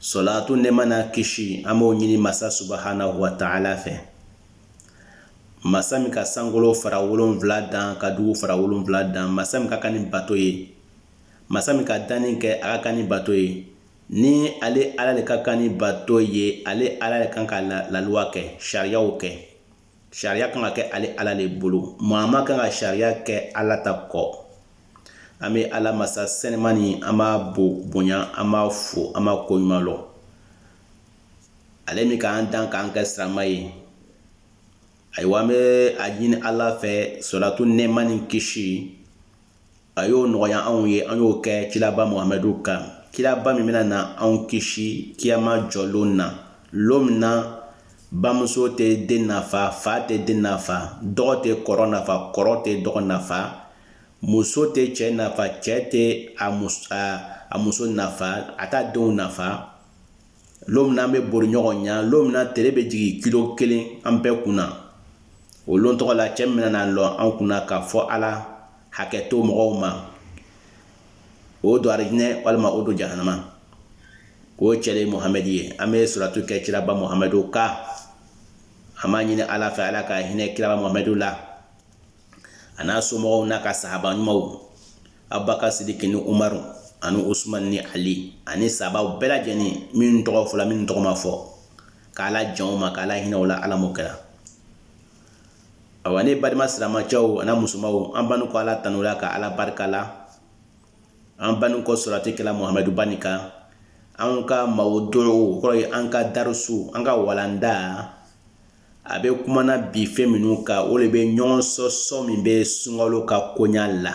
Sɔlaatu nɛɛma n'a kisi an b'o ɲini masa subahanahu wa taala fɛ masa min ka sankolo fara wolonwula dan ka dugu fara wolonwula dan masa min ka kan ni bato ye masa min ka danni kɛ a ka kan ni bato ye ni ale ala le ka kan ni bato ye ale ala le kan ka laluwa kɛ sariyaw kɛ sariya kan ka kɛ ale ala le bolo maa man kan ka sariya kɛ ala ta kɔ an bɛ ala masa sɛniman nin an b'a bo bonya an b'a fo an b'a ko ɲuman lɔ ale min k'an dan k'an kɛ sirama ye ayiwa an bɛ a ɲini ala fɛ sɔlatu nɛɛma ni kisi A y'o nɔgɔya anw ye an y'o kɛ kiraba Muhamadu kan kiraba min bɛna na anw kisi kiyama jɔlon na lon min na bamuso tɛ den nafa fa tɛ den nafa dɔgɔ tɛ kɔrɔ nafa kɔrɔ tɛ dɔgɔ nafa muso tɛ cɛ nafa cɛ tɛ a muso nafa a t'a denw nafa lon min an bɛ bori ɲɔgɔn ɲa lon min na tele bɛ jigin kilo kelen an bɛɛ kun na o lon tɔgɔ la cɛ min bɛna na lɔ an kun na k'a fɔ ala hakɛ to mɔgɔw ma o don arijinɛ walima o don jahanama o cɛ le ye muhamɛdi ye an bɛ sɔlatu kɛ kiraba muhamadu kan an b'a ɲini ala fɛ ala ka hinɛ kiraba muhamadu la a n'a somɔgɔw n'a ka sahaba ɲumanw abubakar sidiki ni umaru ani usumani ni ali ani sahabaw bɛɛ lajɛlen minnu tɔgɔ fɔla minnu tɔgɔ ma fɔ k'ala jɛn u ma k'ala hinɛ u la ala m'o kɛra awa ne badenma silamacɛw a n'a musomanw an bannin kɔ ala tanu la ka ala barika la an bannin kɔ sɔlati kɛ la muhamadu ba nin kan an ka mawudu o kɔrɔ ye an ka darusu an ka walanda a bɛ kumana bi fɛn minnu kan o le bɛ ɲɔgɔn sɔsɔ min bɛ sunkalo ka koɲa la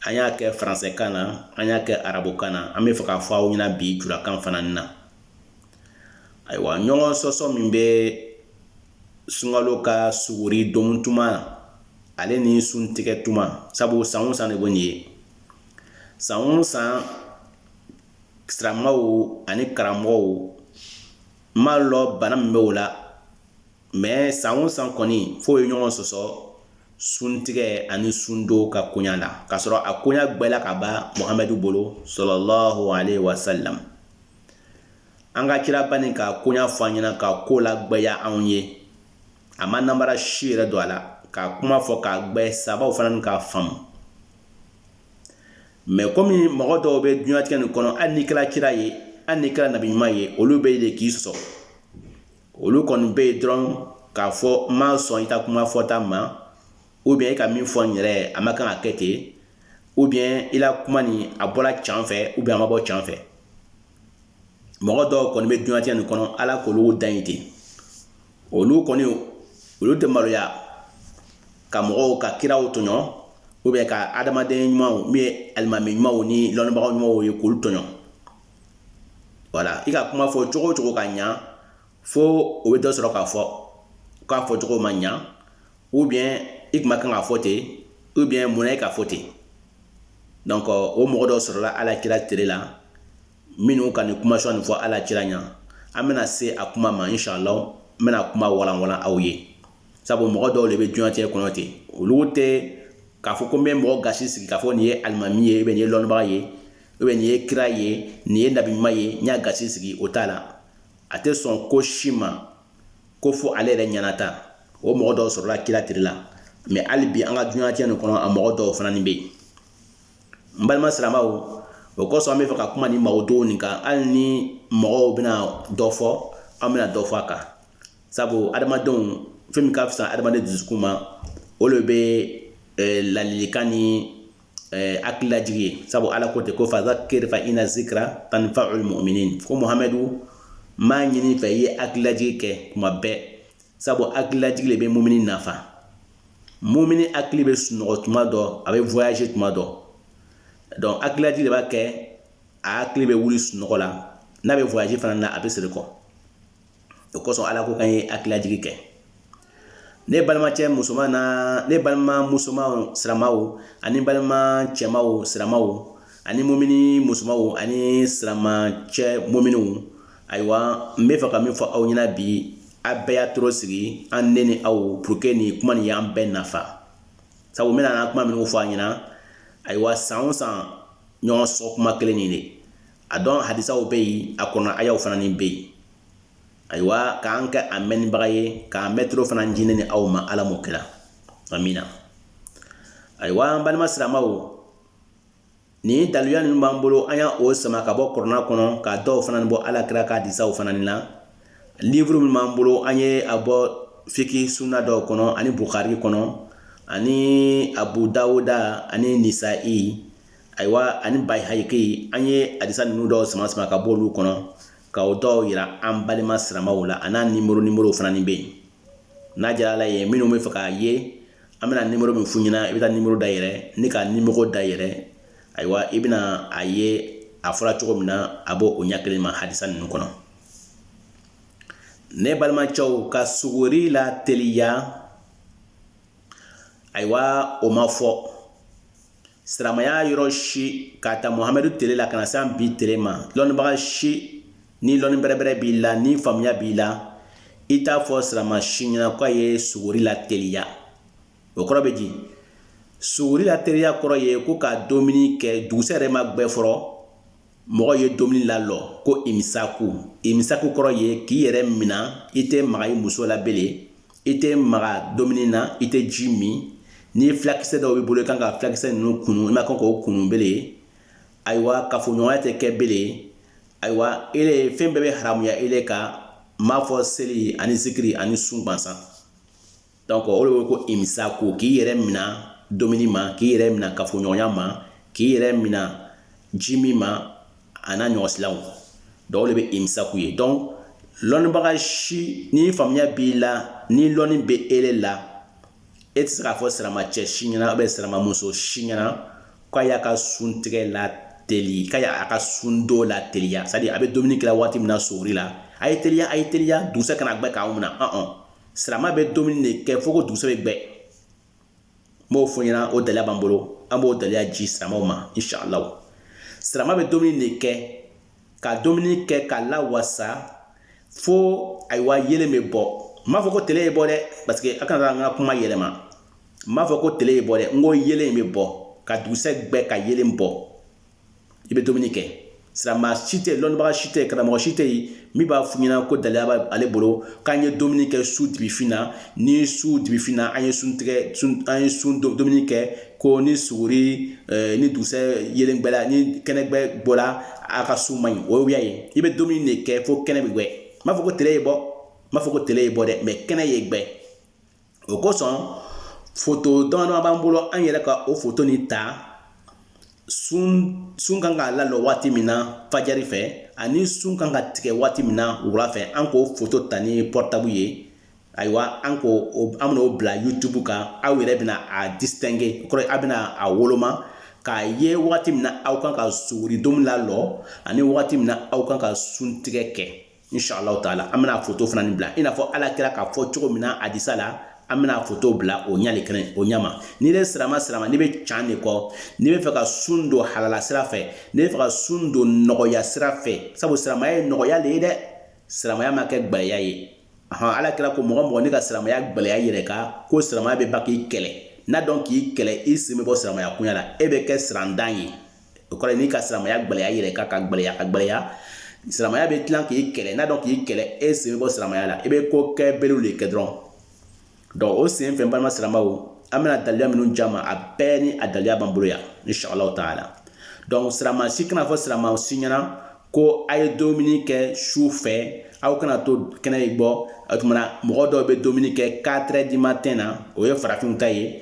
an y'a kɛ faransɛkan na an y'a kɛ arabukan na an bɛ fɛ k'a fɔ aw ɲɛna bi julakan fana na ayiwa ɲɔgɔn sɔsɔ min bɛ sunkalo ka suguri domu tuma ale ni suntigɛ tuma sabu san o san le bɛ nin ye san o san siramaw ani karamɔgɔw n m'a lɔn bana min bɛ o la mais san o san kɔni fo o ye ɲɔgɔn sɔsɔ suntigɛ ani sundon ka koɲa la k'a sɔrɔ a koɲa gwɛla ka ban muhamadu bolo salalahu aleyhi wasalam an ka kiraba nin k'a koɲa fɔ an ɲɛna k'a ko lagwɛya anw ye a ma nanbara si yɛrɛ don a la k'a kuma fɔ k'a gwɛ sahabaw fana ni k'a faamu mais kɔmi mɔgɔ dɔw bɛ duniɲatigɛ nin kɔnɔ hali n'i kɛra kira ye hali n'i kɛra nabi ɲuman ye olu bɛ yen de k'i sɔsɔ olu kɔni bɛ yen dɔrɔn k'a fɔ n ma sɔn i ka kuma fɔta ma ou bien i ka min fɔ n yɛrɛ a ma kan ka kɛ ten ou bien i la kuma nin a bɔra can fɛ ou bien a ma bɔ can fɛ mɔgɔ dɔw kɔni bɛ duniɲatigɛ nin kɔnɔ ala k'olu dan ye ten olu kɔni olu tɛ maloya ka mɔgɔw ka kiraw tɔɲɔ ou bien ka adamaden ɲumanw min ye alimami ɲumanw ni lɔnnibaga ɲumanw ye k'olu tɔɲɔ voilà i ka kuma fɔ cogo o cogo ka ɲa fo o bɛ dɔ sɔrɔ k'a fɔ k'a fɔ cogo ma ɲa ou bien i tun ma kan k'a fɔ ten ou bien munna i k'a fɔ ten donc o mɔgɔ dɔw sɔrɔla ala kira tere la minnu ka nin kumasen nin fɔ ala kira ɲɛ an bɛna se a kuma ma inshallah n bɛna kuma walanwalan aw ye sabu mɔgɔ dɔw de bɛ duniɲatigɛ kɔnɔ ten olu tɛ k'a fɔ ko n bɛ mɔgɔ gasi sigi k'a fɔ nin ye alimami ye ou bien nin ye lɔnnibaga ye ou bien nin ye kira ye nin ye nabi ɲuman ye n y'a gasi sigi o t'a la a tɛ sɔn ko si ma ko fo ale yɛrɛ ɲɛnata o mɔgɔ dɔw sɔrɔla kira tile la mais hali bi an ka duniɲatigɛ nin kɔnɔ a mɔgɔ dɔw fana nin bɛ yen n balima siramaw o kosɔn an bɛ fɛ ka kuma nin mawdu'u nin kan hali ni mɔgɔw bɛna dɔ fɔ an bɛna dɔ fɔ a kan sabu adamadenw fɛn min ka fisa adamaden dusukun ma o de bɛ ladilikan ni hakililajigi ye sabu Ala ko ten ko fazakir fa ina zikra tanfaul muminin ko Muhamadu n b'a ɲini i fɛ i ye hakililajigi kɛ tuma bɛɛ sabu hakililajigi de bɛ mumini nafa mumini hakili bɛ sunɔgɔ tuma dɔ a bɛ voyager tuma dɔ donc hakililajigi de b'a kɛ a hakili bɛ wuli sunɔgɔ la n'a bɛ voyager fana na a bɛ segin kɔ o kosɔn Ala ko k'an ye hakililajigi kɛ ne balimacɛ musoman na ne balima musomanw siramaw ani balima cɛmaw siramaw ani mumini musomanw ani siramacɛ muminiw ayiwa n bɛ fɛ ka min fɔ aw ɲɛna bi a bɛɛ y'a toro sigi an ne ni aw pour que nin kuma nin y'an bɛɛ nafa sabu n bɛna kuma minnu fɔ a ɲɛna ayiwa san o san ɲɔgɔn sɔsɔ kuma kelen nin de a dɔn hadisaw bɛ yen a kɔrɔna ayaw fana nin bɛ yen ayiwa k'an kɛ a mɛnnibaga ye k'a mɛtoro fana di ne ni aw ma ala m'o kɛra amina ayiwa an balima siramaw Nin daluya ninnu b'an bolo an y'a o sama ka bɔ kɔrɔna kɔnɔ ka dɔw fana bɔ ala kira ka hadisaw fana nin na livuru min b'an bolo an ye a bɔ fiki sunna dɔw kɔnɔ ani bukari kɔnɔ ani abu dawuda ani nisayi ayiwa ani bayihaki an ye hadisa ninnu dɔw sama sama ka bɔ olu kɔnɔ ka o dɔw yira an balima siramaw la an'a nimɔrɔ nimɔrɔw fana nin bɛ yen n'a diyara ala ye minnu bɛ fɛ k'a ye an bɛna nimoro min f'u ɲɛna i bɛ taa nimoro dayɛlɛ n'i ka nimoro dayɛlɛ ayiwa i bɛna a ye a fɔra cogo min na a b'o ɲɛ kelen ma hadisa ninnu kɔnɔ ne balimacɛw ka suguri lateliya ayiwa o ma fɔ silamɛya yɔrɔ si k'a ta muhamadu tele la ka na se an bi tele ma lɔnnibaga si ni lɔnni bɛrɛbɛrɛ b'i la ni faamuya b'i la i t'a fɔ silama si ɲɛna k'a ye suguri lateliya o kɔrɔ bɛ di suguri lateliya kɔrɔ ye ko ka domuni kɛ dugusɛ yɛrɛ ma gbɛ fɔlɔ mɔgɔ ye domuni lalɔ ko imisaku imisaku kɔrɔ ye k'i yɛrɛ mina i tɛ maga i muso la bele i tɛ maga domuni na i tɛ ji min ni filakisɛ dɔw b'i bolo i kan ka filakisɛ ninnu kunu i man kan k'o kunu bele ayiwa kafoɲɔgɔnya tɛ kɛ bele ayiwa ele fɛn bɛɛ bɛ haramuya ele kan m'a fɔ seli ani zikiri ani sun gwansan Donc o de wele ko imisaku k'i yɛrɛ minɛ dumuni ma k'i yɛrɛ minɛ kafoɲɔgɔnya ma k'i yɛrɛ minɛ ji min ma a n'a ɲɔgɔnsilaw donc o de bɛ imisaku ye donc lɔnnibaga si ni faamuya b'i la ni lɔnni bɛ ele la e tɛ se k'a fɔ siramacɛ si ɲɛna ou bien siramamuso si ɲɛna k'a y'a ka sun tigɛ lateli k'a y'a ka sun don lateliya c'est à dire a bɛ dumuni kɛla waati min na suguri la a ye teliya a ye teliya dugusɛ kana gbɛ k'aw minɛ Silamɛ bɛ dumuni de kɛ fo ko dugusɛ bɛ gbɛ n b'o fɔ ɲɛna o daliya b'an bolo an b'o daliya ji silamɛw ma inshallah silamɛ bɛ dumuni de kɛ ka dumuni kɛ ka lawasa fo ayiwa yelen bɛ bɔ n m'a fɔ ko tele ye bɔ dɛ parce que a kana an ka kuma yɛlɛma n m'a fɔ ko tele ye bɔ dɛ n ko yelen bɛ bɔ ka dugusɛ gbɛ ka yelen bɔ i bɛ dumuni kɛ sirama si tɛ lɔnnibaga si tɛ karamɔgɔ si tɛ yen min b'a f'u ɲɛna ko daliya b'ale bolo k'an ye dumuni kɛ su dibifin na ni su dibifin na an ye sun tigɛ an ye sun dumuni kɛ ko ni suguri ni dugusɛ yelen gbɛla ni kɛnɛgbɛ bɔla a ka sun man ɲi wuya ye i bɛ dumuni de kɛ fo kɛnɛ bɛ gbɛ n m'a fɔ ko tele ye bɔ n m'a fɔ ko tele ye bɔ dɛ mais kɛnɛ ye gbɛ o kosɔn foto damadama b'an bolo an yɛrɛ ka o foto nin ta sun kan ka lalɔ waati min na fajari fɛ ani sun kan ka tigɛ waati min na wula fɛ an k'o foto ta ni portable ye ayiwa an ko an bɛn'o bila youtube kan aw yɛrɛ bɛna a distinguer o kɔrɔ aw bɛna a woloma k'a ye wagati min na aw kan ka suguri domuni lalɔ ani wagati min na aw kan ka sun tigɛ kɛ Inshallah taala an bɛna foto fana nin bila i n'a fɔ ala kira k'a fɔ cogo min na hadisa la an bɛna foto bila o ɲali kɛnɛ o ɲama ni ne sirama sirama n'i bɛ can de kɔ n'i bɛ fɛ ka sun don halala sira fɛ n'i bɛ fɛ ka sun don nɔgɔya sira fɛ sabu siramaya ye nɔgɔya de ye dɛ siramaya ma kɛ gɛlɛya ye hɔn ala kira ko mɔgɔ mɔgɔ n'i ka siramaya gɛlɛya yɛrɛ kan ko siramaya bɛ ban k'i kɛlɛ n'a dun k'i kɛlɛ i sen bɛ bɔ siramaya koɲa la e bɛ kɛ sirantan ye o kɔrɔ n'i ka silamɛya gɛlɛya yɛrɛ kan ka gɛlɛya ka gɛlɛya silamɛya bɛ tilan k'i kɛlɛ n'a dun k'i kɛlɛ e sen bɛ bɔ silamɛya la i bɛ ko kɛ berew de kɛ dɔrɔn donc o sen fɛ balima silamɛw an bɛna daliluya minnu di a ma a bɛɛ ni a daliluya b'an bolo yan inshallah taala donc sirama si kana fɔ sirama si ɲɛna ko a ye domuni kɛ su fɛ aw kana to kɛnɛ bɔ o tuma na mɔgɔ dɔw bɛ domuni kɛ 4 heures du matin na o ye farafinw ta ye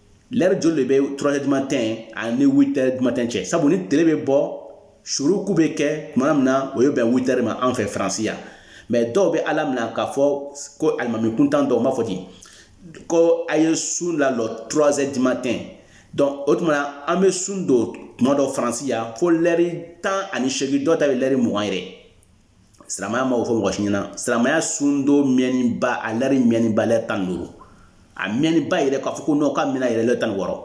lɛre joli de bɛ 3 heures du matin ani 8 heures du matin cɛ sabu ni tile bɛ bɔ suruku bɛ kɛ tuma min na o ye bɛn 8 heures ma an fɛ faransi yan mais dɔw bɛ a laminɛ k'a fɔ ko alimami kuntan dɔw b'a fɔ ten ko a ye sun lalɔ 3 heures du matin donc o tuma na an bɛ sun don tuma dɔ faransi yan fo lɛri tan ani segi dɔw ta bɛ lɛri mugan yɛrɛ silamɛya ma o fɔ mɔgɔ si ɲɛna silamɛya sundon mɛnniba a lɛri mɛnniba lɛri tan duuru a mɛnniba yɛrɛ k'a fɔ ko non k'a mɛnna yɛrɛ lɛri tan wɔɔrɔ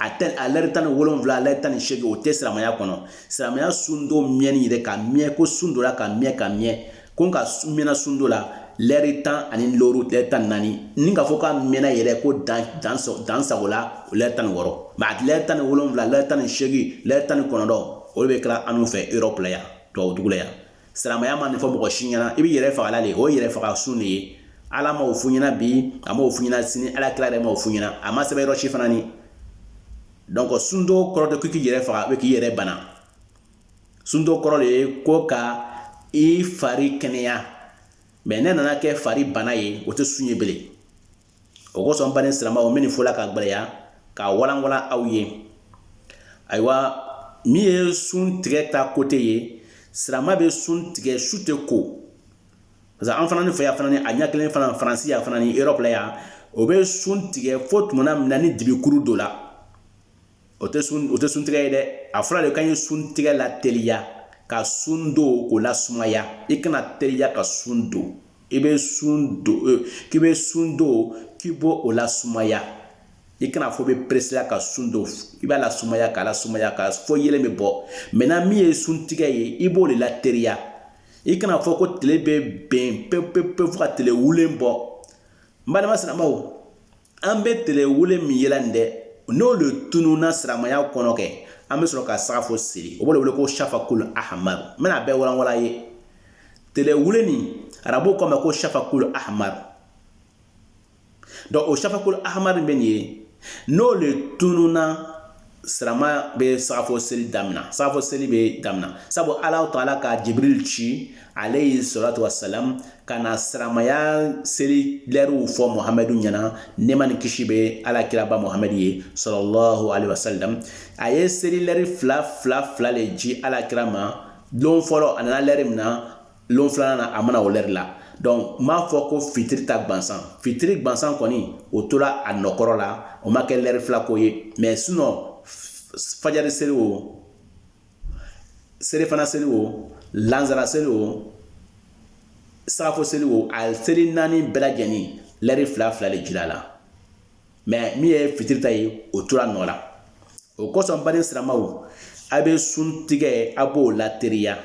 a tɛ a lɛri tan ni wolonwula lɛri tan ni seegin o tɛ silamɛya kɔnɔ silamɛya sundon mɛnni yɛrɛ ka mɛn ko sun dora ka mɛn ka mɛn ko ka mɛnna sundon la lɛri tan ani looru lɛri tan naani ni k'a fɔ k'a mɛnna yɛrɛ ko dan dan dan sago la o lɛri tan ni wɔɔrɔ mais a lɛri tan ni wolonwula lɛri tan ni seegin lɛri tan ni kɔnɔntɔn o de bɛ kɛla anw fɛ Europe la yan tubabudugu la yan silamɛya ma nin fɔ mɔgɔ si ɲɛna i bɛ yɛrɛ fagala de o ye yɛrɛ faga sun de ye ala ma o f'u ɲɛna bi a ma o f'u ɲɛna sini ala kira yɛrɛ ma o f'u ɲɛna a ma sɛbɛn yɔrɔ si fana ni donc sundon kɔrɔ tɛ ko k'i yɛrɛ faga k'i yɛrɛ bana sundon kɔrɔ de ye ko ka i fari kɛnɛya mais n'a nana kɛ fari bana ye o tɛ sun ye belen o kosɔn n baden siramaw n bɛ nin fɔla ka gɛlɛya k'a walanwalan aw ye ayiwa min ye sun tigɛ ta côté ye sirama bɛ sun tigɛ su tɛ ko parce que an fana fɛ yan fana a ɲɛ kelen fana faransi yan fana ni Europe la yan o bɛ sun tigɛ fo tuma min na ni dibikuru don la o tɛ sun o tɛ sun tigɛ ye dɛ a fɔra de k'an ye sun tigɛ lateliya ka sun don k'o lasumaya i kana teliya ka sun don i bɛ sun don e, k'i bɛ sun don k'i b'o lasumaya i kana fɔ bɛ presser la ka sun don i b'a lasumaya k'a lasumaya ka fɔ yelen bɛ bɔ maintenant min ye sun tigɛ ye i b'o de lateriya i kana fɔ ko tile bɛ ben pewu pewu fo ka tile wulen bɔ n balima silamɛw an bɛ tele wulen min yela nin dɛ n'o le tununna siramaya kɔnɔ kɛ an bɛ sɔrɔ ka sagafo seli o b'o le wele ko shafakul ahmar n bɛna a bɛɛ walanwala ye tele wulen nin arabuw k'o ma ko shafakul ahmar donc o shafakul ahmar bɛ nin ye n'o le tununna sirama bɛ safo seli daminɛ safo seli bɛ daminɛ sabu ala taala ka jibril ci alayhi salatu wassalam ka na siramaya seli lɛriw fɔ muhamadu ɲɛna nɛɛma ni kisi bɛ ala kiraba muhamadu ye sallallahu alayhi wasallam a ye seli lɛri fila fila fila de ji ala kira ma don fɔlɔ a nana lɛri min na lon filanan na a ma na o lɛri la donc n b'a fɔ ko fitiri ta gwansan fitiri gwansan kɔni o tora a nɔ kɔrɔ la o ma kɛ lɛri fila ko ye mais sinon fajari seli o selifana seli o lanzara seli o sagafo seli o a seli naani bɛɛ lajɛlen lɛri fila fila de jira a la mais min ye fitiri ta ye o tora nɔ la o kosɔn baden siramaw a bɛ sun tigɛ a b'o lateliya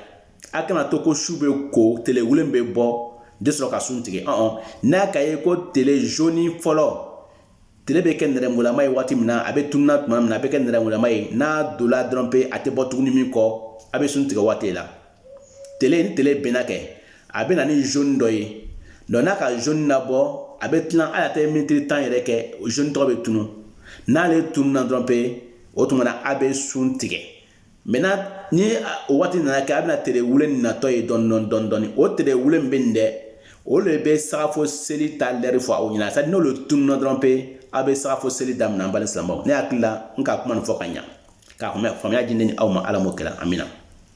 a kana to ko su bɛ ko telewulen bɛ bɔ de sɔrɔ ka sun tigɛ ɔn ɔn n'a ka ye ko tele jaune fɔlɔ tele bɛ kɛ nɛrɛmugulama ye waati min na a bɛ tununa tuma min na a bɛ kɛ nɛrɛmugulama ye n'a dola dɔrɔn pe a tɛ bɔ tuguni min kɔ a bɛ sun tigɛ waati la tele ni tele benna kɛ a bɛ na ni jaune dɔ ye donc n'a ka jaune nabɔ a bɛ tila a tɛ miniti tan yɛrɛ kɛ o jaune tɔgɔ bɛ tunun n'ale tununna dɔrɔn pe o tuma na a bɛ sun tigɛ mais ni waati nana kɛ a bɛna tile wulen natɔ ye dɔɔni dɔɔni dɔɔni o tile wulen bɛ nin dɛ o de bɛ safo seli ta lɛri fɔ aw ɲɛna sa n'o tununna dɔrɔn pe aw bɛ safo seli daminɛ n balima siramaw ne hakili la n ka kuma fɔ ka ɲɛ k'a tun bɛ faamuya di ne ni aw ma ala kɛra anmina na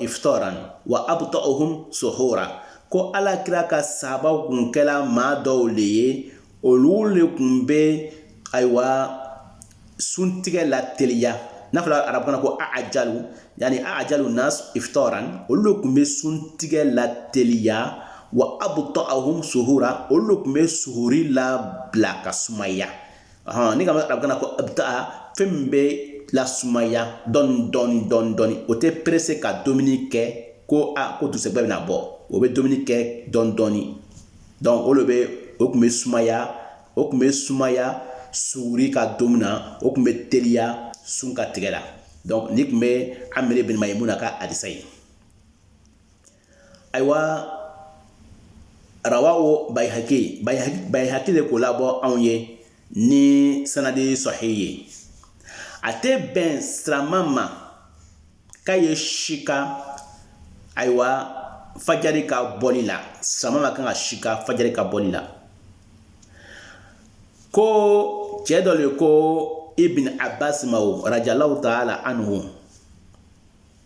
iftaran wa abta'uhum suhura ko ala kira ka sahabaw kun kɛla maa dɔw le ye olu le kun bɛ ayiwa suntigɛ lateliya n'a fɔra arabukan na ko a'jalu yani a'jalu nas iftaran olu le kun bɛ suntigɛ lateliya wa abta'uhum suhura olu le kun bɛ suhuri labila ka sumaya ni ka arabukan na ko abta'a fɛn min bɛ lasumaya dɔɔni dɔɔni dɔɔni dɔɔni o tɛ pressé ka dumuni kɛ ko aa ko dugusɛgbɛ bɛna bɔ o bɛ dumuni kɛ dɔɔni dɔɔni donc o bɛ o kun bɛ sumaya suguri ka domu na o kun bɛ teliya sun ka tigɛ la donc nin kun bɛ amir bin maymuna ka hadisa ye ayiwa rawahu bayhaki bayhaki de k'o labɔ anw ye ni sanadi sahih ye a tɛ bɛn silama ma k'a ye sika ayiwa fajari ka bɔli la silama man kan ka sika fajari ka bɔli la ko cɛ dɔ de ko ibn abbas ma o radiyallahu taala anhu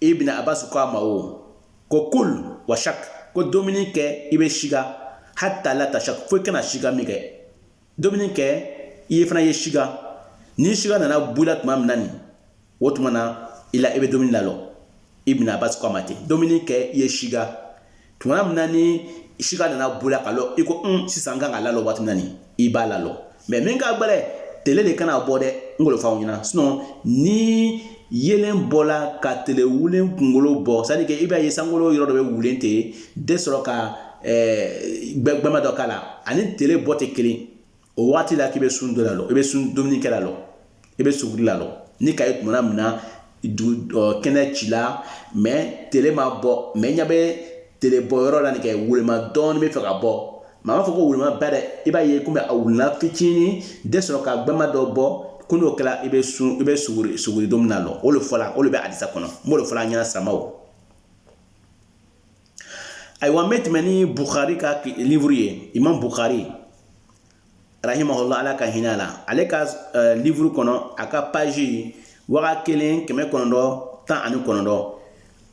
ibn abbas ko a ma o ko kul wa shak ko dumuni kɛ i bɛ sika hata la tashak fo i kana sika min kɛ dumuni kɛ i fana ye sika ni sika nana bɔ i la tuma min na nin o tuma na i la i bɛ dumuni lalɔ ibn abbas ko a ma ten dumuni kɛ i ye sika tuma min na ni sika nana bɔ i la ka lɔ i ko n sisan n kan ka lalɔ waati min na nin i b'a lalɔ mɛ min ka gbɛlɛ tele de kana bɔ dɛ n k'o le f'aw ɲɛna sinɔn ni yelen bɔla ka tele wulen kunkolo bɔ sadi ke i b'a ye sankolo yɔrɔ dɔ bɛ wulen ten de sɔrɔ ka eh, gbɛgbɛma dɔ k'a la ani tele bɔ tɛ kelen o waati la k'i bɛ sun dɔ lalɔ i bɛ sun dumuni kɛ lalɔ i bɛ suguri lalɔ n'i k'a ye tumana min na kɛnɛ cila mɛ tele ma bɔ mɛ ɲɛ bɛ tele bɔ yɔrɔ la nin kɛ wulenma dɔɔni bɛ fɛ ka bɔ mɛ n m'a fɔ ko wulenma ba dɛ i b'a ye komi a wulenna fitinin de sɔrɔ ka gbɛma dɔ bɔ ko n'o kɛra i bɛ sun i bɛ suguri suguri dumuni lalɔ o de fɔla o de bɛ adisa kɔnɔ n b'o de fɔla an ɲɛna silamaw ayiwa n bɛ tɛmɛ ni bukari ka livuru ye imam bukari rahimahullah ala ka hinɛ a la ale ka eh, livuru kɔnɔ a ka paji waga kelen kɛmɛ kɔnɔntɔn tan ani kɔnɔntɔn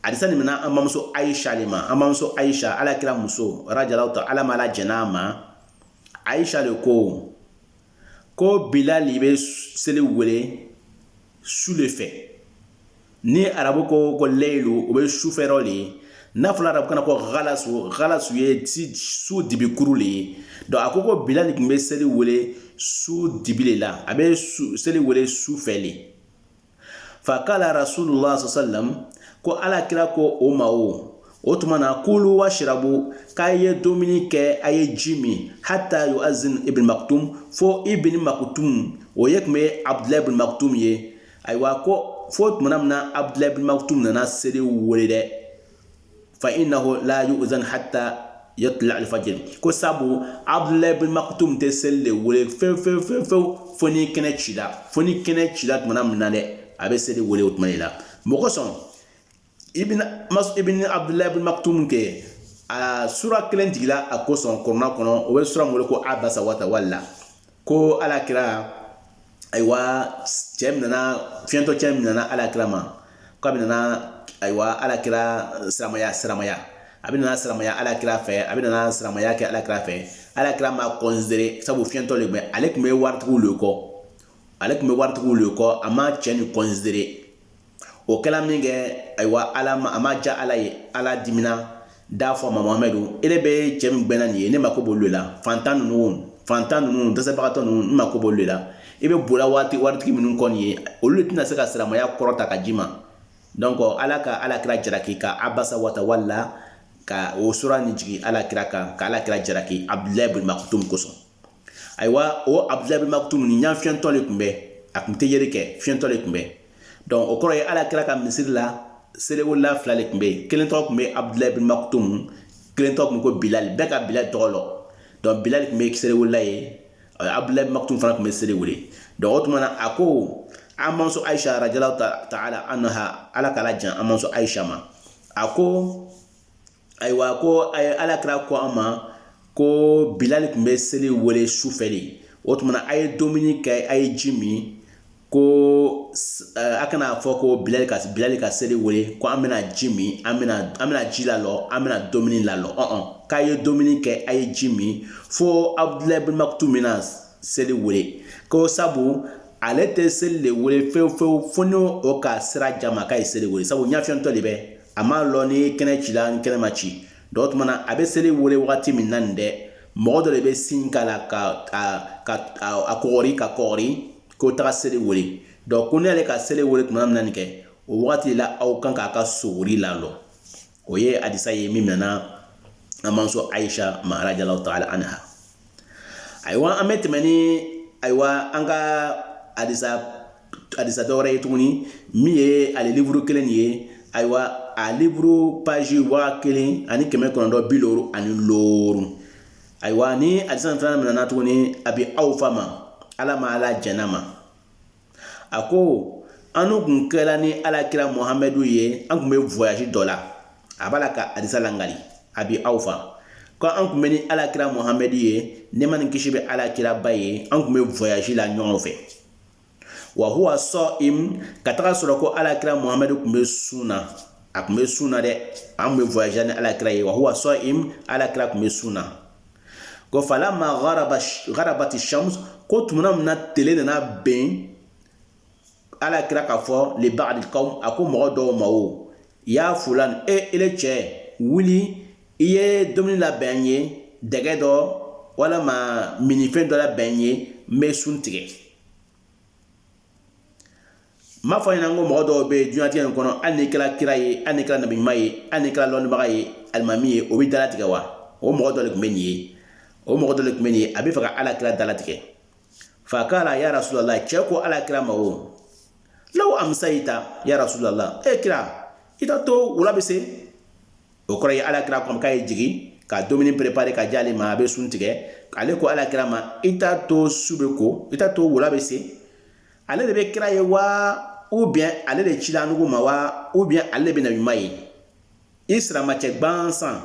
adisa nin mina an bamuso aisha de ma an bamuso aisha ala kira muso radiyallahu taala ma ala jɛn'a ma aisha de ko ko bilali bɛ seli wele su de fɛ ni arabu ko ko leyilu o bɛ sufɛrɔ de ye n'a fɔra arabukan na ko galasu galasu ye su dibikuru de ye donc a ko ko bilal tun bɛ seli wele su dibi de la a bɛ seli wele su fɛ de fa kala rasulullah sallam ko ala kira ko o ma o o tuma na kulu wa shirabu k'a ye dumuni kɛ a ye ji min hata yuazin ibn maktum fo ibn maktum o ye tun bɛ abdulayi ibn maktum ye ayiwa ko fo tuma min na abdulayi ibn maktum nana seli wele dɛ fa innahu la yu'zan hatta yatla al-fajr ko sabu abdullah ibn maktum tɛ seli de wele fewu fewu fewu fewu fo ni kɛnɛ cira fo ni kɛnɛ cira tumana min na dɛ a bɛ seli wele o tuma de la mɔgɔ sɔn ibn mas ibn abdullah ibn maktum kɛ a sura kelen jigila a kosɔn kurana kɔnɔ o bɛ sura min wele ko abasa wa tawala ko ala kira ayiwa cɛ min nana fiɲɛtɔ cɛ min nana ala kira ma k'a bɛ nana ayiwa ala kira siramaya siramaya a bɛ nana siramaya ala kira fɛ a bɛ nana siramaya kɛ ala kira fɛ ala kira m'a considéré sabu fiɲɛtɔ le bɛ ale tun bɛ waritigiw le kɔ ale tun bɛ waritigiw le kɔ a ma cɛ nin considéré o kɛla min kɛ ayiwa ala ma a ma ja ala ye ala dimina d'a fɔ ma muhamadu ile bɛ cɛ min gbɛnna nin ye ne mako b'olu la fantan ninnu fantan ninnu dɛsɛbagatɔ ninnu ne mako b'olu la i bɛ bola waritigi minnu kɔ nin ye olu le tɛna se ka siramaya kɔrɔta ka ji ma donc ala ka ala kira jaraki ka abasa wa tawalla ka o sura nin jigin ala kira kan ka ala kira jaraki abudulayi bin makutum kosɔn ayiwa o abudulayi bin makutum nin ɲa fiɲɛtɔ le tun bɛ a tun tɛ yeli kɛ fiɲɛtɔ le tun bɛ donc o kɔrɔ ye ala kira ka misiri la seliwelela fila le tun bɛ yen kelen tɔgɔ tun bɛ abudulayi bin makutum kelen tɔgɔ tun ko bilali bɛɛ ka bilali tɔgɔ lɔn donc bilali tun bɛ seliwelela ye abudulayi bin makutum fana tun bɛ seli wele donc o tuma na a ko an mamuso ayisa radiyallahu taala anha ala k'ala jan an mamuso ayisa ma a ko ayiwa ko a ye ala kira ko an ma ko bilali tun bɛ seli wele sufɛ le o tumana a ye dumuni kɛ a ye ji min ko a kan'a fɔ ko bilali ka bilali ka seli wele ko an bɛna ji min an bɛna ji lalɔ an bɛna dumuni lalɔ ɔn k'a ye dumuni kɛ a ye ji min fo abudulayi bin makutum bɛna seli wele ko sabu ale tɛ seli le wele fewufewu fo n'o ka sira jama k'a ye seli wele sabu ɲafiyɛntɔ le bɛ a m'a lɔn ni kɛnɛ cila ni kɛnɛ ma ci donc o tuma na a bɛ seli wele wagati min na nin dɛ mɔgɔ dɔ le bɛ sin k'a la ka ka a kɔgɔri k'a kɔgɔri ko taga seli wele donc ko ni ale ka seli wele tuma min na nin kɛ o wagati la aw kan k'a ka sogori lalɔ o ye adisa ye min minɛna an manso ayisa ma radiyallahu taala anha ayiwa an bɛ tɛmɛ ni ayiwa an ka adisa adisa dɔ wɛrɛ ye tuguni min ye ale liburu kelen nin ye ayiwa a liburu paji waa kelen ani kɛmɛ kɔnɔntɔn bi ani lorun ayiwa nin adisa fana minɛna tuguni abi awfa ma ala ma ala jɛnn'a ma a ko an kun kɛra ni ala kira muhamadu ye an kun bɛ voyage dɔ la a b'a la ka adisa langali abi awfa ko an kun bɛ ni ala kira muhamadu ye nɛɛma ni kisi bɛ ala kiraba ye an kun bɛ voyage la ɲɔgɔn fɛ wa huwa sa'im ka taga sɔrɔ ko alakira muhamadu kun bɛ sun na a kun bɛ sun na dɛ an kun bɛ voyage ni alakira ye wa huwa sa'im alakira kun bɛ sun na ko falamma garabati shams ko tumana min na tele nana ben alakira k'a fɔ li ba'dil qawm a ko mɔgɔ dɔw ma o ya fulani e ele cɛ wuli i ye dumuni labɛn n ye dɛgɛ dɔ walama minifɛn dɔ labɛn n ye n bɛ sun tigɛ n m'a fɔ ɲɛna ko mɔgɔ dɔw bɛ diɲɛlatigɛ in kɔnɔ hali n'i kɛra kira ye hali n'i kɛra nabi ɲuman ye hali n'i kɛra lɔnnibaga ye alimami ye o bɛ dalatigɛ wa o mɔgɔ dɔ de tun bɛ nin ye o mɔgɔ dɔ de tun bɛ nin ye a bɛ fɛ ka ala kira dalatigɛ fa kala ya rasulala cɛ ko ala kira ma o law amisayita ya rasulala e kira i t'a to wula bɛ se o kɔrɔ ye ala kira k'a ma k'a ye jigin ka dumuni perepare ka di ale ma a bɛ sun tigɛ ale ko ala kira ma i t'a to su bɛ ko i t'a to wula bɛ se ale de bɛ kira ye wa ou bien ale de cila annugu ma wa ou bien ale de bɛ nabi ɲuman ye i siramacɛ gansan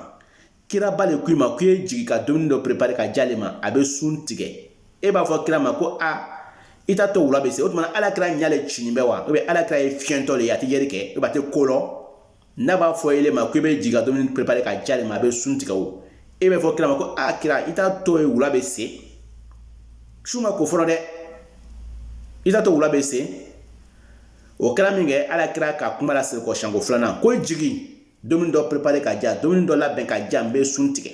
kiraba de k'i ma k'i ye jigin ka dumuni dɔ prepare ka di ale ma a bɛ sun tigɛ e b'a fɔ kira ma ko a i t'a to wula bɛ se o tuma ala kira ɲa le cinin bɛ wa ou bien ala kira ye fiɲɛtɔ de ye a tɛ yeli kɛ ou bien a tɛ ko lɔ n'a b'a fɔ ele ma ko i bɛ jigin ka dumuni prepare ka di ale ma a bɛ sun tigɛ o e b'a fɔ kira ma ko a kira i t'a to ye wula bɛ se su ma ko fɔlɔ dɛ i t'a to wula bɛ se o kɛra min kɛ ala kira ka kuma lasegi kɔ siɲɛko filanan ko jigin dumuni dɔ prepare ka di yan dumuni dɔ labɛn ka di yan n bɛ sun tigɛ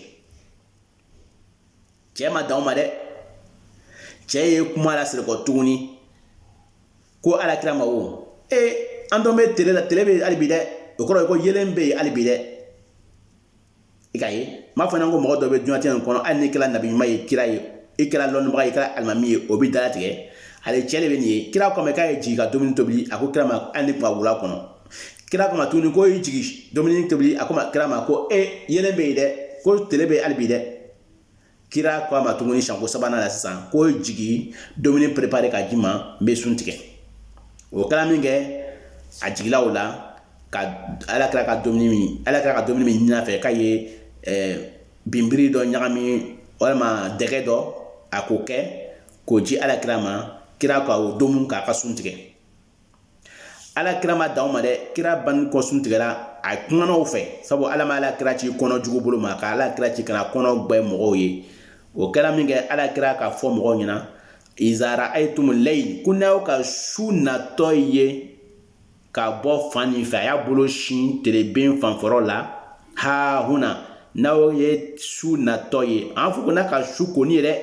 cɛ ma dan o ma dɛ cɛ ye kuma lasegi kɔ tuguni ko ala kira ma o ee an dun bɛ tele la tele bɛ hali bi dɛ o kɔrɔ ye ko yelen bɛ yen hali bi dɛ i k'a ye n m'a fɔ ɲɛna ko mɔgɔ dɔ bɛ diɲɛlatigɛ in kɔnɔ hali n'i kɛra nabi ɲuman ye kira ye i kɛra lɔnnibaga ye i kɛra alimami ye o bɛ dalatigɛ ale cɛ de bɛ nin ye kira k'a ma k'a ye jigin ka dumuni tobi a ko kira ma hali n'i tun ba wula kɔnɔ kira k'a ma tuguni ko i jigi dumuni tobi a ko kira ma ko e yelen bɛ yen dɛ ko tele bɛ hali bi dɛ kira ko a ma tuguni siɲɛko sabanan la sisan ko jigi dumuni perepare ka di n ma n bɛ sun tigɛ o kɛra min kɛ a jigila o la ka ala kira ka dumuni min ala kira ka dumuni min ɲin'a fɛ k'a ye eh, binbiri dɔ ɲagami walima dɛgɛ dɔ a k'o kɛ k'o di ala kira ma kira ka o domu k'a ka sun tigɛ ala kira ma dan o ma dɛ kira banni kɔ sun tigɛ la a kumana o fɛ sabu ala ma ala kira ci kɔnɔ jugu bolo ma ka ala kira ci ka na kɔnɔ gwɛ mɔgɔw ye o kɛra min kɛ ala kira k'a fɔ mɔgɔw ɲɛna iza raayitumu layi ko n'aw ka su natɔ ye ka bɔ fan nin fɛ a y'a bolo sin teleben fan fɔrɔ la ha huna n'aw ye su natɔ ye an fɔ ko n'a ka su koni ye dɛ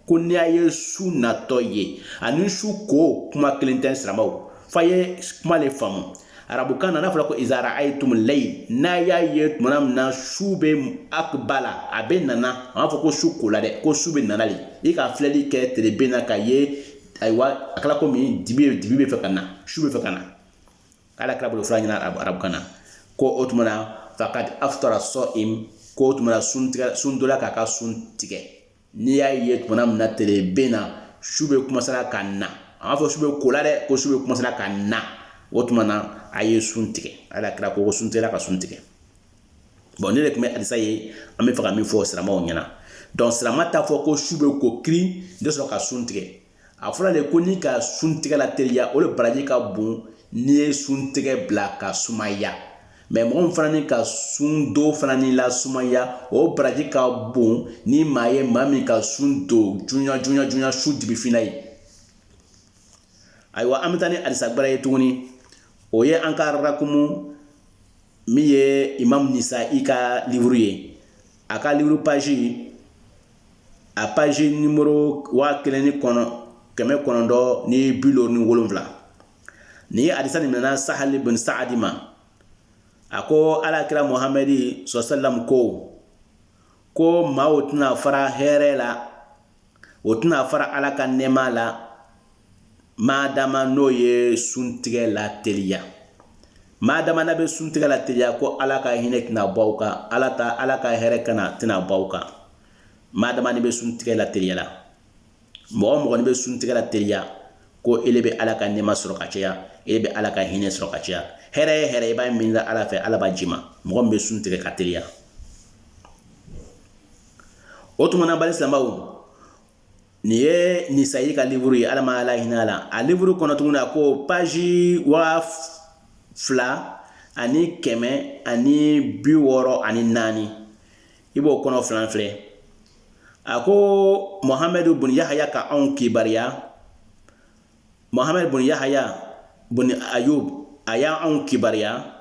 ko n'i y'a ye su natɔ ye ani su ko kuma kelen tɛ siramaw f'a ye kuma le faamu arabukan na n'a fɔra ko iza rayitumu layil n'a y'a ye tuma min na su bɛ akbala a bɛ nana a m'a fɔ ko su kola dɛ ko su bɛ nana de i ka filɛli kɛ teleben na k'a ye ayiwa a kɛra komi dibi dibi bɛ fɛ ka na su bɛ fɛ ka na ala kira b'o le fɔra an ɲɛna arabukan na ko o tuma na fakad aftara sɔyim ko o tuma na sun tigɛ sun dola k'a ka sun tigɛ N'i y'a ye tuma min na teleben na su bɛ kumansela ka na a m'a fɔ su bɛ kola dɛ ko su bɛ kumansela ka na o tuma na a ye sun tigɛ ala kira ko suntigɛla ka sun tigɛ bon nin de tun bɛ adisa ye an bɛ fɛ ka min fɔ siramaw ɲɛna donc sirama t'a fɔ ko su bɛ ko kiiri de sɔrɔ ka sun tigɛ a fɔra de ko n'i ka sun tigɛ lateliya o de baraji ka bon n'i ye sun tigɛ bila ka sumaya mɛ mɔgɔ min fana n'i ka sun do fana nin lasumaya o baraji ka bon ni maa ye maa min ka sun do junya junya junya su dibi fin na ye ayiwa an bɛ taa ni adisa gbɛrɛ ye tuguni o ye an ka rakumu min ye imam nisayi ka livuru ye a ka livuru paji a paji nimoro waa kelen ni kɔnɔ kɛmɛ kɔnɔntɔn ni bi duuru ni wolonwula nin ye adisa nin minɛna sahali bin saadi ma a ko ala kira muhamadi sɔsɛlam ko ko maaw tɛna fara hɛrɛ la o tɛna fara ala ka nɛɛma la maadama n'o ye suntigɛ lateliya maadama n'a bɛ suntigɛ lateliya ko ala ka hinɛ tɛna bɔ aw kan ala ta ala ka hɛrɛ kana tɛna bɔ aw kan maadama n'i bɛ suntigɛ lateliyala mɔgɔ mɔgɔ n'i bɛ suntigɛ lateliya ko ele bɛ ala ka nɛɛma sɔrɔ ka caya ele bɛ ala ka hinɛ sɔrɔ ka caya hɛrɛ ye hɛrɛ i b'a ɲinina ala fɛ ala b'a d'i ma mɔgɔ min bɛ suntigɛ ka teliya o tuma na balima silamɛw nin ye nisayi ka livuru ye ala ma ala hinɛna a la a livuru kɔnɔ tuguni a ko paji waa fila ani kɛmɛ ani bi wɔɔrɔ ani naani i b'o kɔnɔ filan filɛ a ko muhamadu bun yahaya ka anw kibaruya muhamadu bun yahaya bun ayubu a y'anw kibaruya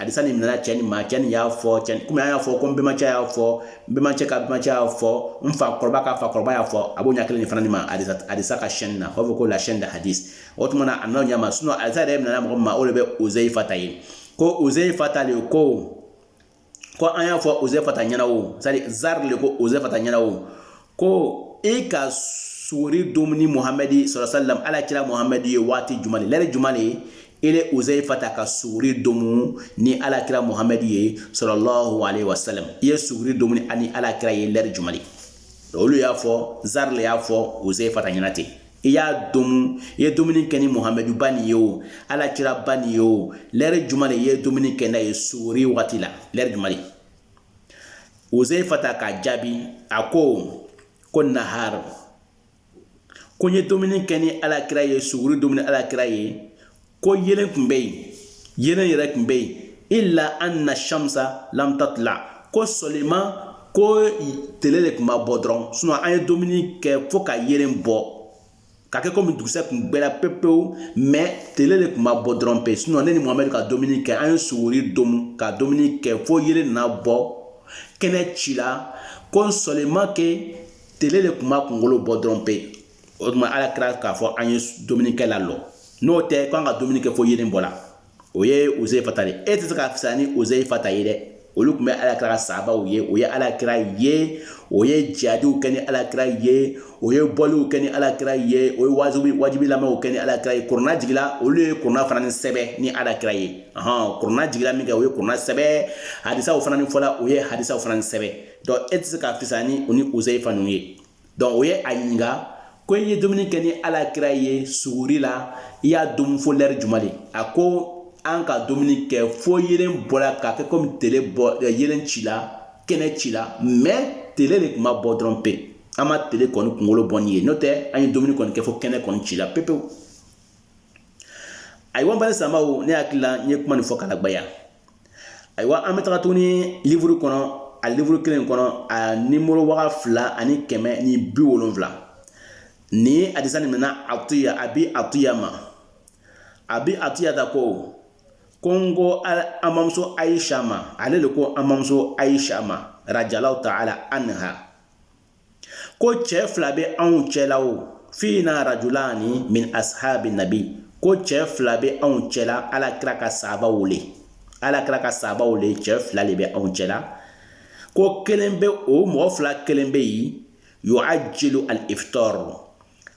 Adisa nin minɛna cɛ nin ma cɛ nin y'a fɔ cɛ komi an y'a fɔ ko n bɛnbacɛ y'a fɔ n bɛnbacɛ ka bɛnbacɛ y'a fɔ n fa kɔrɔba ka fa kɔrɔba y'a fɔ a b'o ɲɛ kelen nin fana nin ma adisa adisa ka sɛni na o b'a fɔ ko la sɛni de hadis o tuma na a n'o ɲɛ ma sinɔn adisa yɛrɛ minɛna mɔgɔ min ma o de bɛ uzeyifata ye ko uzeyifata de ko ko an y'a fɔ uzeyifata ɲɛna o c'est-à-dire zari de ko uzeyifata ɲɛna o ko e ka suguri domu ni muhamɛdi salalahu alaihi wasalam ala kira muhamɛdi ye waati jumɛn lɛri jumɛn de ye ele uzaifata ka suguri domu ni ala kira muhamɛdi ye salalahu alaihi wasalam i ye suguri domuni ani ala kira ye lɛri jumɛn de olu y'a fɔ zari le y'a fɔ uzaifata ɲɛna ten i y'a domu i ye dumuni kɛ ni muhamɛdu ba nin ye o ala kira ba nin ye o lɛri jumɛn de i ye dumuni kɛ n'a ye suguri waati la lɛri jumɛn de uzaifata k'a jaabi a ko ko nahar ko n ye dumuni kɛ ni alakira ye suguri dumu ni alakira ye ko yelen tun bɛ yen yelen yɛrɛ tun bɛ yen ila ana shamsa lam tatila ko sɔliman ko tele de tun ma bɔ dɔrɔn sinɔ an ye dumuni kɛ fo ka yelen bɔ ka kɛ komi dugusɛ tun gbɛra pepewu mɛ tele de tun ma bɔ dɔrɔn pe sinɔ ne ni muhamɛdi ka dumuni kɛ an ye suguri domu ka dumuni kɛ fo yelen na bɔ kɛnɛ cila ko sɔliman ke tele de tun ma kungolo bɔ dɔrɔn pe o tuma ala kira k'a fɔ an ye dumuni kɛ lalɔ n'o tɛ k'an ka dumuni kɛ fo yelen bɔla o ye uzaifata de e tɛ se ka fisa ni uzaifata ye dɛ olu tun bɛ ala kira ka sahabaw ye o ye ala kira ye o ye jihadiw kɛ ni ala kira ye o ye bɔliw kɛ ni ala kira ye o ye wajuli lamɛnw kɛ ni ala kira ye kurana jiginla olu ye kurana fana ni sɛbɛ ni ala kira ye hɔn kurana jiginla min kɛ o ye kurana sɛbɛ hadisaw fana ni fɔla o ye hadisaw fana ni sɛbɛ dɔnku e tɛ se ka fisa ni u ni uzaifa ninnu ye dɔnku o ye a ɲininka ko i ye dumuni kɛ ni ala kira ye suguri la i y'a dumu fo lɛri jumɛn de a ko an ka dumuni kɛ fo yelen bɔra ka kɛ komi tele bɔ eh, yelen cila kɛnɛ cila mɛ tele de tun ma bɔ dɔrɔn pe an ma tele kɔni kunkolo bɔnin ye n'o tɛ an ye dumuni kɔni kɛ fo kɛnɛ kɔni cila pepewu ayiwa balima silamɛw ne hakili la n ye kuma nin fɔ k'a lagbaya ayiwa an bɛ taga tuguni livuru kɔnɔ a livuru kelen kɔnɔ a nimoro waga fila ani kɛmɛ ni bi wolonfila ni hadisa nin minɛna atiya abi atiya ma abi atiyata ko ko n ko an bamuso ayisa ma ale de ko an bamuso ayisa ma radiyalahu taala anha ko cɛ fila bɛ anw cɛla o fina rajulani min ashabi nabi ko cɛ fila bɛ anw cɛla ala kira ka sahabaw le ala kira ka sahabaw le cɛ fila de bɛ anw cɛla ko kelen bɛ o mɔgɔ fila kelen bɛ yen yuajilu alifitar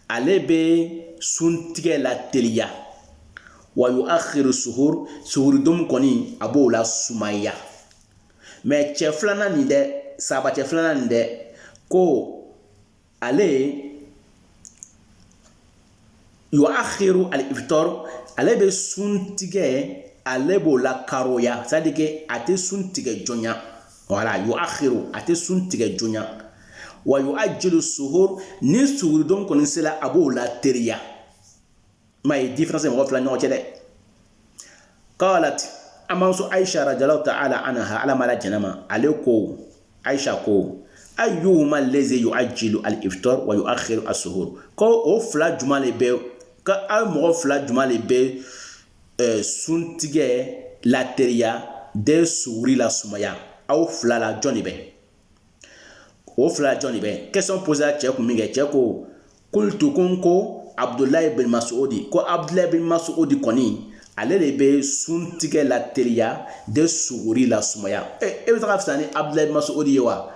ale bɛ suntigɛ lateliya wa yuaxiru suhur suhuri domu kɔni a b'o lasumaya mais cɛ filanan nin dɛ sahaba cɛ filanan nin dɛ ko ale yu'akhiru al iftar ale bɛ sun tigɛ ale b'o la karoya c'est à dire que a tɛ sun tigɛ jonya voilà yu'akhiru a tɛ sun tigɛ jonya wa yu'ajjilu suhur ni suguridon kɔni sera a b'o lateriya maa ye différence mɔgɔ fila ɲɔgɔn cɛ dɛ qalat an bamuso ayisa radiyallahu ta'ala anha ala ma la jɛnna a ma ale ko ayisa ko ayyuhuma allazi yu'ajjilu al iftar wa yu'akhiru suhur ko o fila juma de bɛ ka aw mɔgɔ fila juma de bɛ eh, suntigɛ lateriya de suguri lasumaya aw fila la jɔn de bɛ o fila jɔn de bɛ question poser cɛ kun min kɛ cɛ ko Kultu ko ko abudulayi bin masudi ko abudulayi bin masudi kɔni ale de bɛ sun tigɛ lateriya de suguri lasumaya e bɛ taga fisa ni abudulayi bin masudi ye wa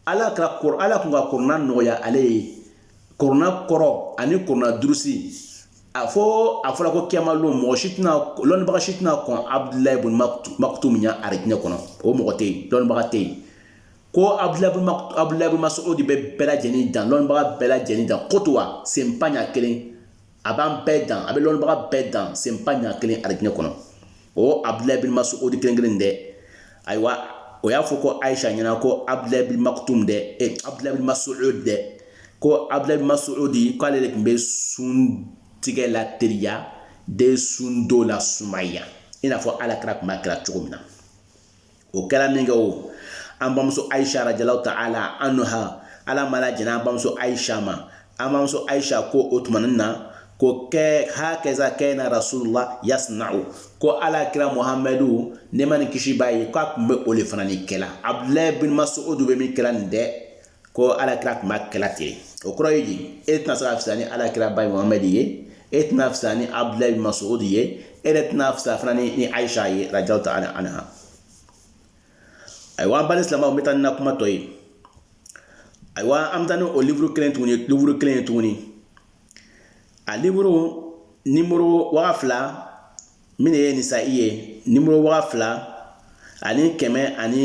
ala ka kɔrɔ ala tun ka kurana nɔgɔya ale ye kurana kɔrɔ ani kurana durusi a fɔ a fɔra ko kiyama don mɔgɔ si tɛna lɔnnibaga si tɛna kɔn abudulayi bin makutum ɲɛ arijinɛ kɔnɔ o mɔgɔ tɛ yen lɔnnibaga tɛ yen ko abudulayi bin masudi bɛ bɛɛ lajɛlen dan lɔnnibaga bɛɛ lajɛlen dan koto wa senba ɲɛ kelen a b'an bɛɛ dan a bɛ lɔnnibaga bɛɛ dan senba ɲɛ kelen alijinɛ kɔnɔ o abudulayi bin masudi kelen kelen dɛ ayiwa o y'a fɔ ko ayisa ɲɛna ko abudulayi bin makutum dɛ e abudulayi bin masud dɛ ko abudulayi bin masudi k'ale de tun bɛ sun tigɛ lateriya de sundo lasumaya i n'a fɔ alakira tun b'a kɛra cogo min na o kɛra min kɛ o an bamuso ayisa radiyallahu ta'ala anha ala ma la jɛnna an bamuso ayisa ma an bamuso ayisa ko o tumanin na ko kɛ hakaza kana rasulullah yasna'u ko ala kira muhamadu nɛɛma ni kisi b'a ye k'a tun bɛ o le fana ni kɛla abudulayi bin masudu bɛ min kɛla nin dɛ ko alakira tun b'a kɛla ten o kɔrɔ ye di e tɛna se ka fisa ni alakira ba ye muhamɛd ye e tɛna fisa ni abudulayi bin masud ye e yɛrɛ tɛna fisa fana ni ni ayisa ye radiyallahu ta'ala anha ayiwa an balima silamɛw n bɛ taa ni na kuma tɔ ye ayiwa an bɛ taa ni o liburu kelen tuguni liburu kelen ye tuguni a liburu nimoro waa fila min de ye nisa'i ye nimoro waa fila ani kɛmɛ ani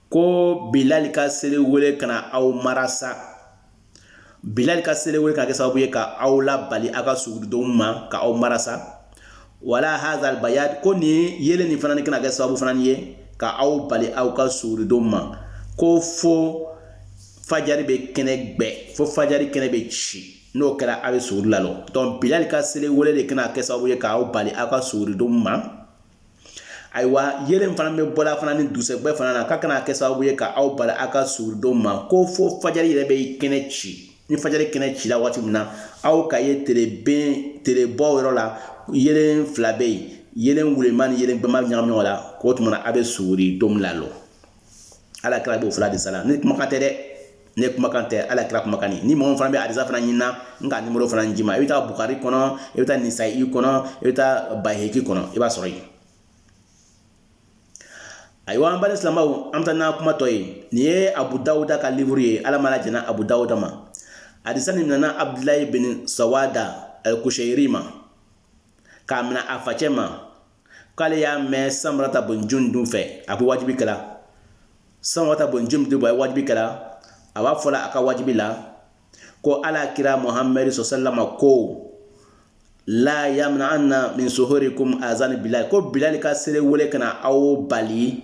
ko bilali ka seli wele kana aw marasa bilali ka seli wele kana kɛ sababu ye ka aw labali aw ka suguridonw ma ka aw marasa wala hazal bayad ko nin yeelen nin fana ni kana kɛ sababu fana ye ka aw bali aw ka suguridonw ma ko fo fajari bɛ kɛnɛ gbɛ fo fajari kɛnɛ bɛ ci n'o kɛra aw bɛ suguri lalɔ donc bilali ka seli wele de kana kɛ sababu ye ka aw bali aw ka suguridonw ma ayiwa yelen in fana bɛ bɔla fana ni dusɛgbɛ fana na k'a kana kɛ sababu ye ka aw bali aw ka suguri don ma ko fo fajari yɛrɛ bɛ kɛnɛ ci ni fajari kɛnɛ cila waati min na aw ka ye tereben terebɔ yɔrɔ la yelen fila bɛ yen yelen wulema ni yelen gbɛma ɲagami ɲɔgɔn la k'o tuma na a bɛ suguri domu lalɔ ala kira b'o fɔla de sala ne kumakan tɛ dɛ ne kumakan tɛ ala kira kumakan ni mɔgɔ fana bɛ hadisa fana ɲinina n ka numéro fana d'i ma i bɛ taa bukari kɔnɔ i bɛ taa nisayi kɔnɔ i bɛ taa bayihaki kɔnɔ i b'a sɔrɔ yen ayiwa an balima silamɛw an bɛ taa n'a kuma tɔ ye nin ye abu dawuda ka liburu ye ala mana jɛna abu dawuda ma hadisa nin nana abudulayi bin sawada kuseyiri ma k'a minɛ a facɛ ma k'ale y'a mɛn samurata bun jundub fɛ a bɛ wajibi kɛla samurata bun jundubu a ye wajibi kɛla a b'a fɔla a ka wajibi la ko ala kira muhamadu sɔsɛlama ko la yamna anna min suhurikum azani bilali ko bilali ka seli wele kana aw bali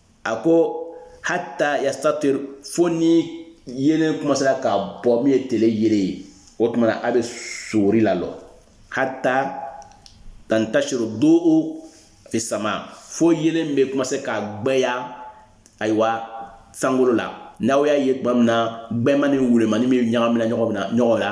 a ko hata yastatir fo ni yelen commencera ka bɔ min ye tele yelen ye o tuma na a bɛ suguri lalɔ hata tantasiru do fi sama fo yelen bɛ commencer ka gbɛya ayiwa sankolo la n'aw y'a ye tuma min na gbɛma ni wulemani bɛ ɲagamina ɲɔgɔn na ɲɔgɔn la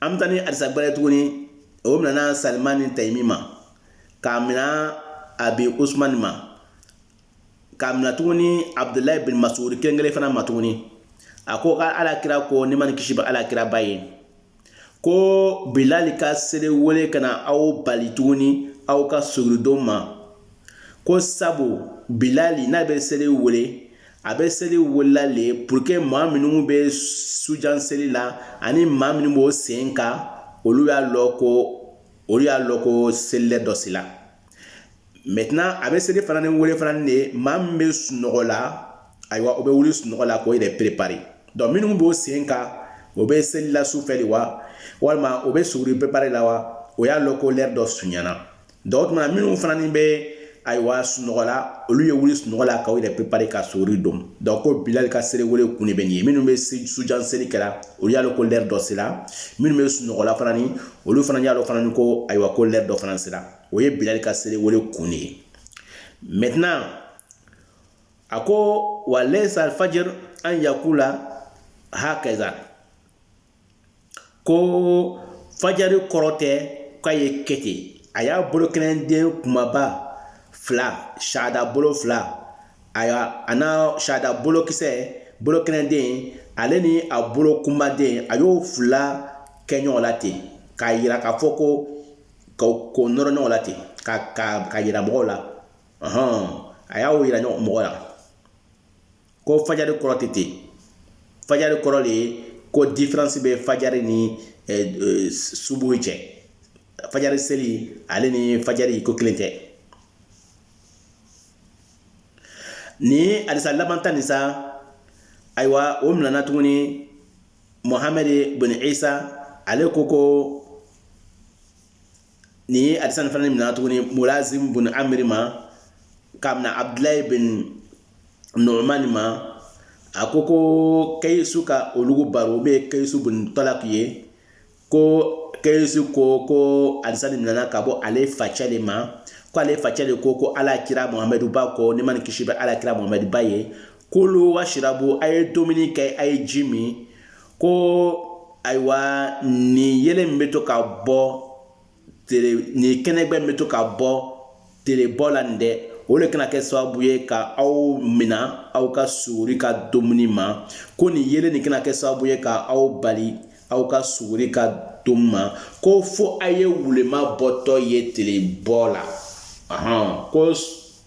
an bɛ taa ni hadisa gbɛrɛ tuguni o minana sulayimani tayimi ma k'a minɛ abi usumani ma k'a minɛ tuguni abudula bin masudu kelen kelen fana ma tuguni a ko ka ala kira ko nɛɛma ni kisi bɛ ala kiraba ye ko bilali ka seli wele kana aw bali tuguni aw ka suguri don ma ko sabu bilali n'a bɛ seli wele a bɛ seli welela le pour que maa minnu bɛ sujan seli la ani maa minnu b'o sen ka olu y'a lɔ ko olu y'a lɔ ko seli l'heure dɔ sela maintenant a bɛ seli fana ni wele fana de ye maa min bɛ sunɔgɔ la ayiwa o bɛ wuli sunɔgɔ la k'o yɛrɛ préparer donc minnu b'o sen ka o bɛ seli la su fɛ de wa walima o bɛ suguri préparer la wa o y'a lɔ ko l'heure dɔ sunyana donc maa minnu fana ni bɛ ayiwa sunɔgɔ la olu ye wuli sunɔgɔ la k'o yɛrɛ préparer ka suguri don donc ko bilali ka seli wele kun de bɛ nin ye minnu bɛ sujan seli kɛla olu y'a lɔ ko l'heure dɔ sera minnu bɛ sunɔgɔla fana ni olu fana y'a lɔ fana ni ko ayiwa ko l'heure dɔ fana sera o ye bilali ka seli wele kun de ye maintenant a ko wa layisa alfajri an yakula hakaza ko fajari kɔrɔ tɛ k'a ye kɛ ten a y'a bolo kelen den kumaba fila shahada bolo fila a a n'a shahada bolokisɛ bolo kelen den ale ni a bolo kunbaden a y'o fila kɛ ɲɔgɔn la ten k'a jira k'a fɔ ko ka k'o nɔrɔ ɲɔgɔn la ten ka ka k'a jira mɔgɔw la ɔhɔn a y'o jira mɔgɔ la ko fajari kɔrɔ tɛ ten fajari kɔrɔ de ye ko diferansi bɛ fajari ni eh, eh, subuhi cɛ fajari seli ale ni fajari ko kelen tɛ nin hadisa laban tan nin sa ayiwa o minɛna tuguni mohamɛd bun isa ale ko ko nin ye hadisa nin fana minɛna tuguni mulazim bun amiri ma k'a minɛ abdulayi bin numani ma a ko ko kɛyisu ka olugu baro min ye kɛyisu bun talaki ye ko kɛyisu ko ko hadisa nin nana ka bɔ ale facɛ de ma ko ale facɛ de ko ko ala kira muhamɛduba ko nɛɛma ni kisi bɛ ala kira muhamɛduba ye kulu wasirabu a ye dumuni kɛ a ye ji min ko ayiwa nin yelen min bɛ to ka bɔ tere nin kɛnɛgbɛ min bɛ to ka bɔ terebɔ la nin dɛ o de kana kɛ sababu ye ka aw mina aw ka suguri ka dumuni ma ko nin yelen nin kana kɛ sababu ye ka aw bali aw ka suguri ka dumuni ma ko fo a ye wulenman bɔtɔ ye terebɔ la ko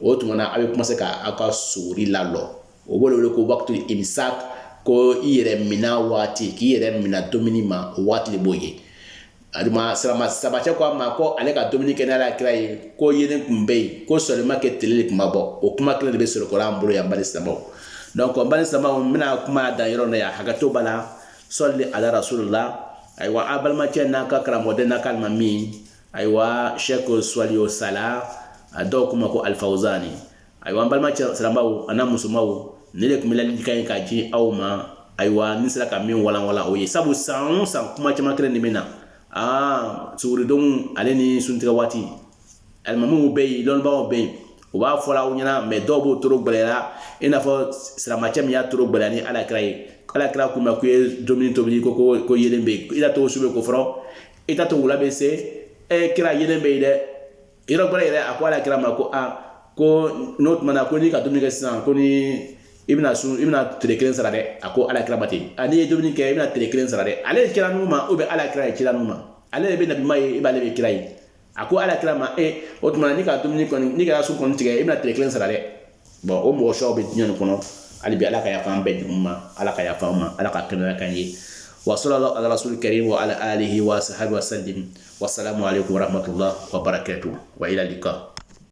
o tuma na a bɛ kuma se k' aw ka suguri lalɔ o b'o wele ko wakitu imisaki ko i yɛrɛ mina waati k'i yɛrɛ mina dumuni ma o waati b'o ye an balima silamɛw sahabacɛ ko a ma ko ale ka dumuni kɛ ni ala kira ye ko yelen tun bɛ yen ko seulement que tile tun ma bɔ o kuma kelen de bɛ sɔrɔ kɔrɔ an bolo yan balima silamɛw dɔnku ko balima silamɛw bɛna kuma dan yɔrɔ na yan hakɛto b'a la sɔli ala rasulilahi ayiwa a balimakɛ n'a ka karamɔgɔden n'a ka min ayiwa Sheikh Suwalihu sala a dɔw kuma ko alifawuzani ayiwa an balima silamɛw an'a musomaw nin de tun bɛ ladilikan ye k'a di aw ma ayiwa ne sera ka min walanwalan o ye sabu san o san kuma caman kelen de bɛ na aa suguridon ale ni suntigɛ waati alimamuw bɛ yen dɔnnibagaw bɛ yen u b'a fɔra aw ɲɛna mɛ dɔw b'o toro gɛlɛyara i n'a fɔ silamɛcɛ min y'a toro gɛlɛya ni alakira ye alakira ko a ma ko i ye dumuni tobili ko ko ko yelen bɛ yen i t'a to su bɛ ko fɔlɔ i t'a to wula bɛ se ɛ kira yelen bɛ yen dɛ yɔrɔ gbɛlen yɛrɛ a ko ala kira ma ko a ko n'o tuma na ko n'i ka dumuni kɛ sisan kɔni i bɛna sun i bɛna tile kelen sara dɛ a ko ala kira ma ten a n'i ye dumuni kɛ i bɛna tile kelen sara dɛ ale ye kira ninnu ma o bɛ ala kira ye kira ninnu ma ale de bɛ nabi ma ye i b'ale bɛ kira ye a ko ala kira ma e o tuma na n'i ka dumuni kɔni n'i ka sun kɔni tigɛ i bɛna tile kelen sara dɛ Bon o mɔgɔ suw bɛ diɲɛ nin kɔnɔ hali bi ala ka yafa an bɛɛ jugu ma ala ka yafa an ma ala ka kɛnɛya k'an ye wa sallallahu ala rasulil karim wa ala alihi wa sahbihi wa sallim wa salamu alaykum wa rahmatullah wa barakatuh wa ila liqa